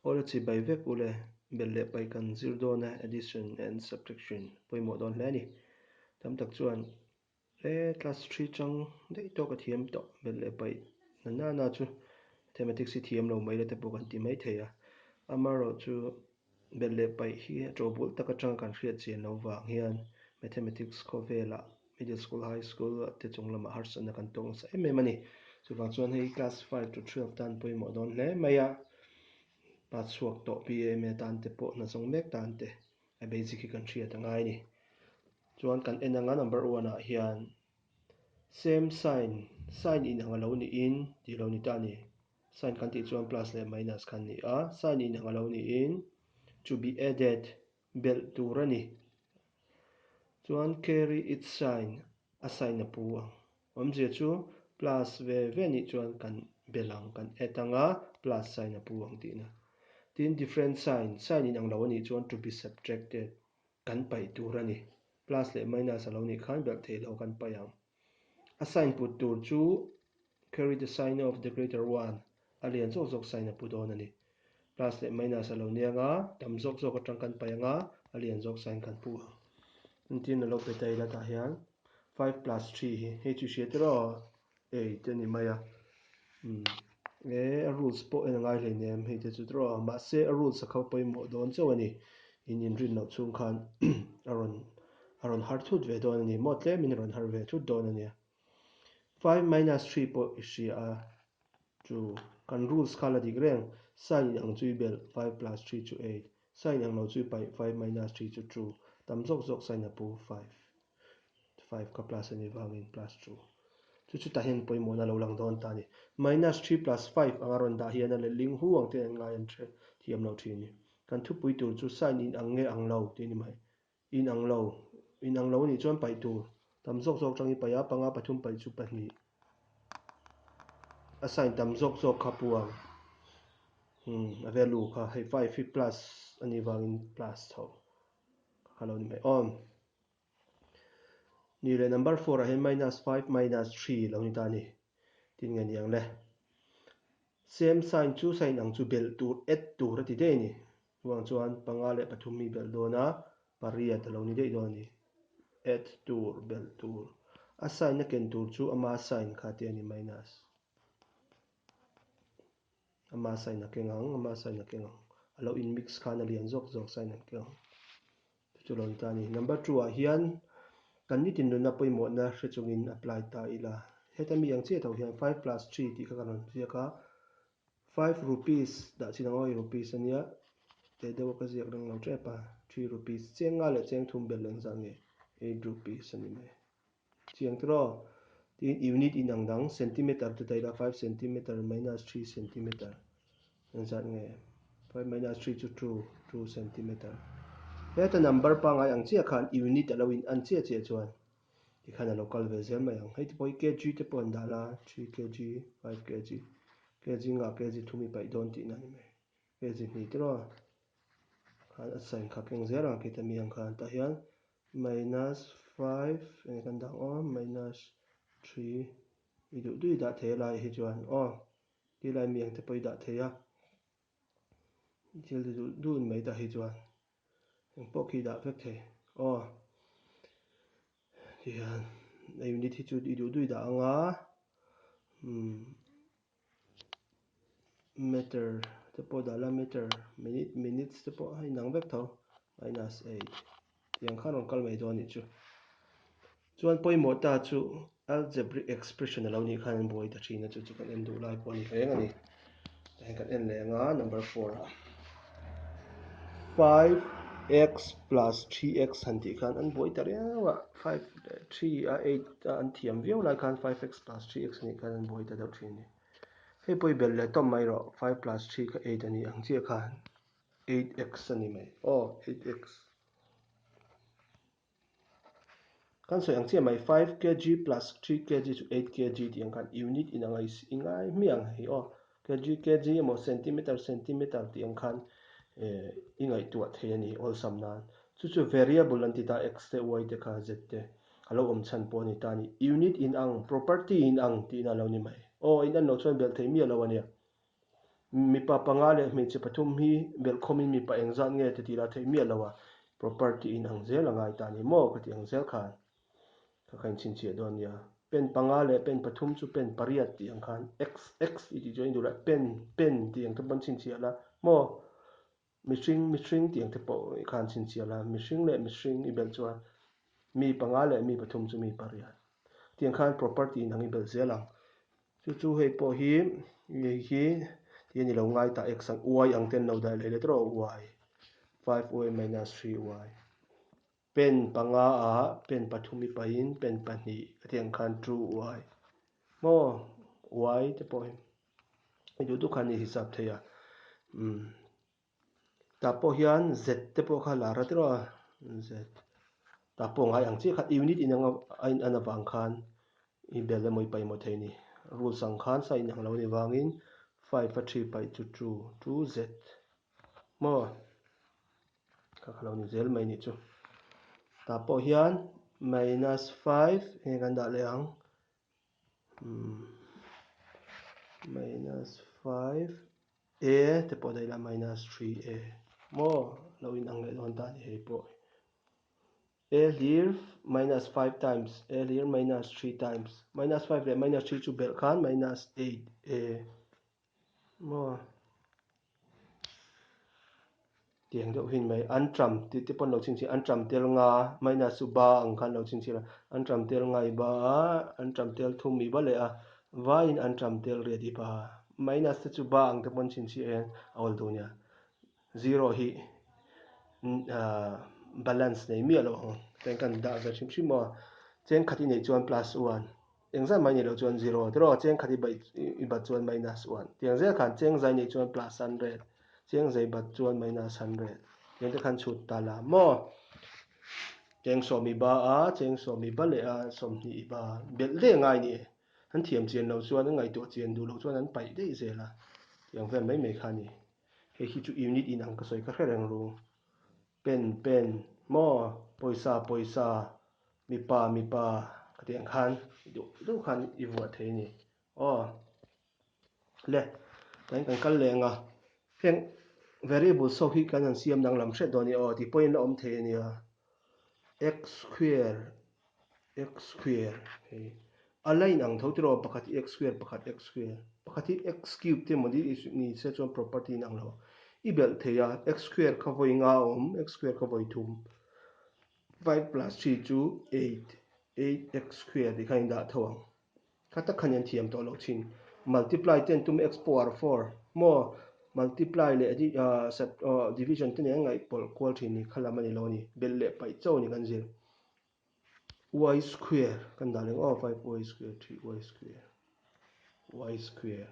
Aw le chhi bai vek u le, bel leh pai kan zir dawn a addition and subtraction pawimawh dawn hle a ni. Tam tak chuan e class three chang daih tawk a thiam tawh bel leh pai na nana chu mathematics hi thiam lo mai la te pawh kan ti mai thei a, amaherawhchu Bet leh paih hi chawhbul taka chang kan hriat chin lo vang hian Mathematics khawvelah Middle School, High School te chung lamah harsatna kan tawk nasa em em a ni. Chuvang chuan hei Class five to twelve tan pawimawh dawn hle mai a, pa chhuak tawh BA, MA tan te pawh hna zawng mek tan te a basic hi kan hriat a ngai a ni. Chuan kan en anga number one ah hian same sign, sign in ang a lo niin tih lo ni ta a ni. Sign kan tih chuan plus leh minus kan ni a, sign inang a lo niin to be added belh tur a ni. Chuan carry its sign, a sign a pu ang. Awmzia chu plus ve ve nih chuan kan belh ang, kan add ang a, plus sign a pu ang tih ina. Tin different sign, sign inang lo a nih chuan to be subtracted kan paih tur a ni. Plus leh minus a lo nih khan belh thei lo kan paih ang. A sign put tur chu Carry the sign of the greater one a lian zawk zawk sign a pu dawn a ni. Plus leh minus a lo ni anga tam zawk zawk atang kan paih anga a lian zawk sign kan pu ang. Engtin na lo pe ta ila tah hian five plus three hi hei chu i hriat iraw? Ei, ti a ni mai a. Umm e a rules pawh en a ngai hlei nem hei te chu draw a mahse a rules a kho pawimawh dawn chauh a ni in inrin loh chhung khan a rawn a rawn har thut ve dawn a ni maw tlem in a rawn har ve thut dawn a nia five minus three pawh i hria a chu kan rules kha la dik reng sign in ang chu i belh five plus three chu eight sign in ang lo chu i paih five minus three chu two tam zawk zawk sign a pu five. five ka plus a ni vangin plus two. Chu chutah hian pawimawhna lo lang dawn ta a ni. Minus three plus five anga rawn dah hian a lehling hu ang ten an ngai an ṭhian thiam lo ṭhin a ni. Kan thupui tur chu sign in ang nge ang lo tih a ni mai. In ang lo, in ang lo a nih chuan paih tur tam zawk zawk aṭangin paih a, panga, pathum, paih chu pahnih a sign tam zawk zawk kha puang a value kha hei five hi plus a ni vangin plus chhoh ka kha lo ni mai aw. Ni le, number four-ah hian minus five minus three lo ni ta a ni. Tin nge niang le? Same sign chu sign ang chu belh tur, add tur a ti daih a ni. Chuvang chuan panga leh pathum mi belh dawn a, pariat a lo ni daih dawn a ni. Add tur, belh tur. A sign a ken tur chu ama sign kha te a ni, minus. Ama sign a keng ang, ama sign a keng ang. A lo in mix khan a lian zawk zawk, sign an keng ang. Chu lo ni ta a ni. Number two ah hian kan ni tin nunna pawimawhna hre chungin apply ta ila. Heta mi ang chiahah hian five plus three tih kha kan rawn ziak a, five rupees dah chin ang aw rupees a nia, tei deuh a ka ziak reng lo tep a, three rupees, cheng nga leh cheng thum belh lo engzah nge eight rupees a ni mai. Chiang tir aw. Tiin unit inang dang, centimeter, te daih la, five centimeter minus three centimeter kan zat nge? Five minus three chu two, two centimeter. Heta number pangngai ang chiah khan unit a lo in an chiah chiah chuan tikhan a lo kal ve zel mai ang. Hei te pawh hi kg te pawh an dah la, three kg, five kg, kg zingah kg thum i paih dawn tihna a ni mai. Kg hnih tir aw. Khan a sign kha keng zel ang a, kei ta mi ang khan tah hian. Minus five eng kan dah aw minus three i duh duh i dah thei a lai hi chuan aw ti lai mi ang te pawh i dah thei a i thil ti duh duh in mai ta hi chuan eng pawh khi i dah vek thei aw ti hian a unit hi chu i duh duh i dah ang a umm. meter te pawh dah la meter minute minutes te pawh a inang vek tho minus eight tiang khan a rawn kal mai dawn a nih chu chuan pawimawh ta chu algebraic expression a lo nih khan an buai ta thin a chu chu kan en duh lai pawh a ni hleng a ni kan en leh ang a number four ah. five x plus three x han tih khan an buai ta riau a five three a eight a an thiam viau lai khan five x plus three x anih khan an buai ta deuh thin a ni hei pawh i bel leh tawm mai rawh five plus three kha eight a ni ang chiah khan eight x a ni mai aw eight x. Kan sawi ang chiah mai five kg plus three kg chu eight kg tih ang khan unit inang a i ngai hmiah ang hei aw kg kg emaw centimeter centimeter tih ang khan i ngaihtuah thei a ni awlsam nan chu chu variable an ti ta x te y te kha z te a lo awm chhan pawh a ni ta ni unit inang property inang tihna a lo ni mai aw inanlo chuan belh thei miah lo a nia. Mipa panga leh hmeichhe pathum hi belh khawmin mipa eng zat nge titi lah theih miah lo a, property in ang zel a ngai ta ni maw ka tih ang zel khan ka kha inchhinchhiah dawn nia. Pen panga leh pen pathum chu pen pariat tih ang khan xx i tih chu a induh la pen pen tih ang ka banchhinchhiah la maw Mihring, mihring tih ang te pawh i khan chhinchhial a, mihring leh mihring i belh chuan mi panga leh mi pathum chu mi pariat tih ang khan property in ang i belh zel ang. Chu chu hei pawh hi ngei hi tih a ni lo, ngai ta x ang y ang ten lo daih leh let rawh y, five y minus three y. Pen panga ah pen pathum i pahin pen pahnih ka tih ang khan true uai maw uai te pawh i duh duh khan i hisap thei a umm tah pawh hian z te pawh kha la rat reuha z tah pawh ngai ang chiah kha unit in anga a in an avang khan i bel emaw i pai maw thei a ni rules ang khan sawi in ang lo ni vangin five a three paih chu true true z maw. Ka ka lo ni zel mai nih chu. Tah pawh hian minus five eng nge kan dah leh ang? Umm minus five a te pawh daih lah minus three a maw? Lo in ang leh dawn ta ni hei pawh. A hlir minus five times a hlir minus three times minus five leh minus three chu belh khan minus eight a Maw tiang deuh hin mai an ṭam tih te pawh an lo chhinchhin an ṭam tel nga a Maina chu ba ang khan an lo chhinchhin a an ṭam tel ngai ba a an ṭam tel thum mi ba leh a vaiin an ṭam tel riat i ba a Maina se chu ba ang te pawh an chhinchhi ah hian a awl duh nia zero hi aah balance nei miah loh ang tlai khan dah ve hrim hrim maw a chenkhat i neih chuan plus u an. Eng zat mai nilo chuan zero te rawh a cheng khat i bat chuan minus one tiang zel khan cheng zai nih chuan plus hundred cheng zai bat chuan minus hundred tiang te khan chhut ta la maw cheng sawm i ba a cheng sawm i ba leh a sawmhnih i ba belh daih ngai ni e an thiam chian lo chuan an ngaihtuah chian duh lo chuan an paih daih zel a tiang vel mai mai kha ni hei hi chu unit inang ka sawi ka hre reng rung. Pen pen maw pawisa pawisa mipa mipa ka tih ang khan i duh duh khan i vuah thei a ni aw le tlaiin kan kal leh anga heng variables ho hi kan an siam danglam hriat dawn a ni aw tih pawhin la awm thei a nia x square. x square hei a la in ang tho tih rawh pakhat hi x square pakhat x square pakhat hi x cube te maw ni ni se chuan property in ang lo i belh thei a x square khawvawi nga a awm x square khawvawi thum five plus three chu eight eight x square tih kha in dah tho ang. Kha tak khan i an thiam tawh loh thin. Multiply ten tum x power four maw? Multiply leh division ten eng ngai pawlh kual thin ni kha lam a ni lo a ni. Bel leh paih chauh a ni kan zir. Y square kan dah reng aw five y square three y square y square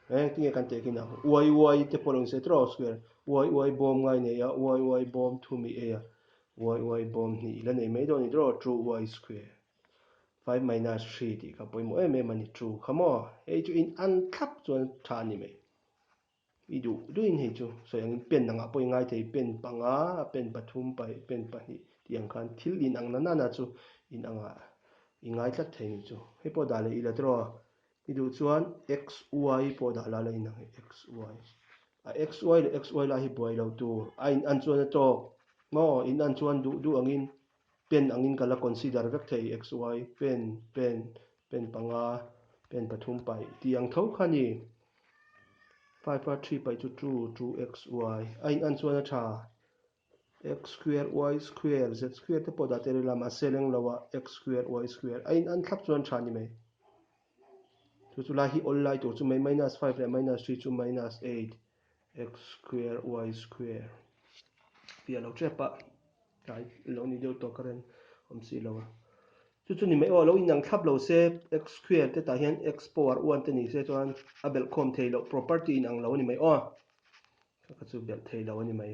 eng tinge kan teh khi na y y te pawh lo insawi tawh a square y y bawm ngai nei a y y bawm thumi ei a y y bawm hnih ila nei mai dawn a ni tawh a true y square. Five minus three tih ka pawimawh em em a ni two kha maw? Hei chu in an thlap chuan tha a ni mai. I duh duhin hei chu sawi angin pen angah pawh i ngai thei. Pen panga, pen pathum, pen pahnih tih ang khan thil in ang nana nana chu in angah i ngai tlat thei ni chu. Hei pawh dah leh i la tiraw? I duh chuan xy pawh dah la leh inang e xy. A xy leh xy lai hi buai lo tur a in an chuan a tawk maw? In an chuan duh duh angin. pen angin ka la consider vek thei i xy pen pen pen panga pen pathum pai tih ang tho kha ni five a three pai chu two two xy a in an chuan a tha x square y square z square te pawh dah teh rih la mahse lenglo a x square y square a in an thlap chuan a tha ni mai. Chu chu lai hi awl lai tur chu mai minus five leh minus three chu minus eight x square y square piah lo tep a tlai lo ni deuh tawh ka ren awm si lo a chu chu ni mai aw a lo inang thlap lo se x square te tah hian x power one te ni se chuan a belh khawm thei loh property inang lo a ni mai aw ka chu belh thei lo a ni mai.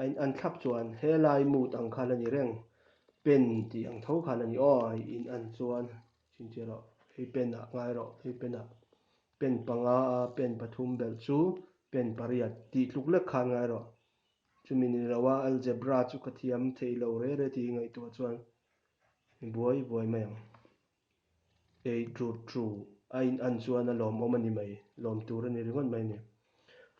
A in an thlak chuan helai mood ang khan a ni reng, pen tih ang tho khan a ni aw. A in an chuan chin chiah rawh, hei pen ah ngai rawh, hei pen ah pen panga a, pen pathum belh chu pen pariat tih tluk lek khan ngai rawh. Chumi ni lo a, algebra chu ka thiam theih lo rere tih ngaihtuah chuan i buai vuai mai ang. Ei tru tru, a in an chuan a lawm awm a ni mai, lawm tur a ni ringawt mai ni.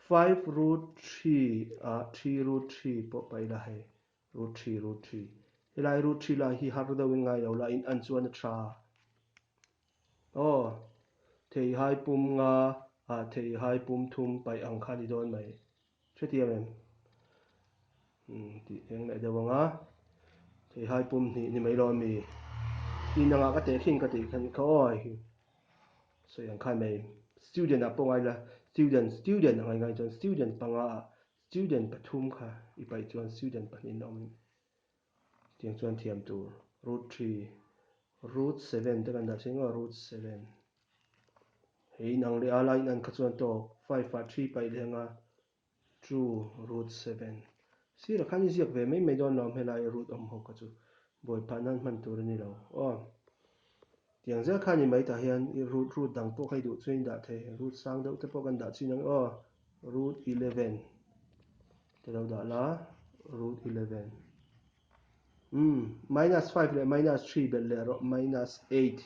Five root three a three root three pawh pa ila hei, root three root three. Helai root three lai hi har deuhin ngai lo la, in an chuan a tha a. Aw, theihai pum nga a theihai pum thum paih ang kha a ni dawn mai. Hrethiam em? Umm, tih eng leh deuh anga, Theihai pum hnih ni mai lo a mi. I nangah ka teh khing ka tih khan i kha awi hi. Sawi ang khai mai. Student ah pawh ngai la, student, student a ngai ngai chuan student panga ah student pathum kha i paih chuan student pahnihin a awm. Tiang chuan thiam tur root three root seven te kan dah si ngawh a, root seven he inang leh a la in an kha chuan tawk five ah three paih leh anga two root seven sirah khan i ziak ve mai mai dawn lo awm helai root awm ho kha chu buai phah nan hman tur a ni lo aw. Tiang zel khan i mai tah hian i root root dang pawh kha i duh chuan i dah thei. Root sang deuh te pawh kan dah chin ang aw. Root eleven te lo dah la, root eleven umm minus five leh minus three belh leh rawh, minus eight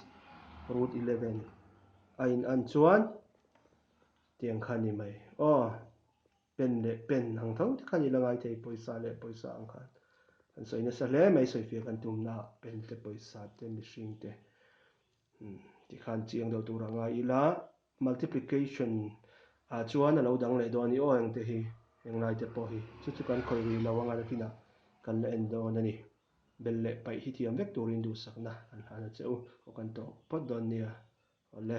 root eleven a in an chuan tiang khan i mai aw. Pen leh pen ang tho te khan i la ngai thei pawisa leh pawisa ang khan kan sawi nasa hle mai sawi fia kan tumna ah pen te pawisa te mihring te umm tih khan chiang deuh tur a ngai ila multiplication ah chuan a lo dang leh dawn i aw engte hi englai te pawh hi chu chu kan khawih rih lo anga nakinah kan la en dawn a ni bel leh paih hi thiam vek turin duhsakna kan hlan a che u aw kan tawh phawt dawn nia awle.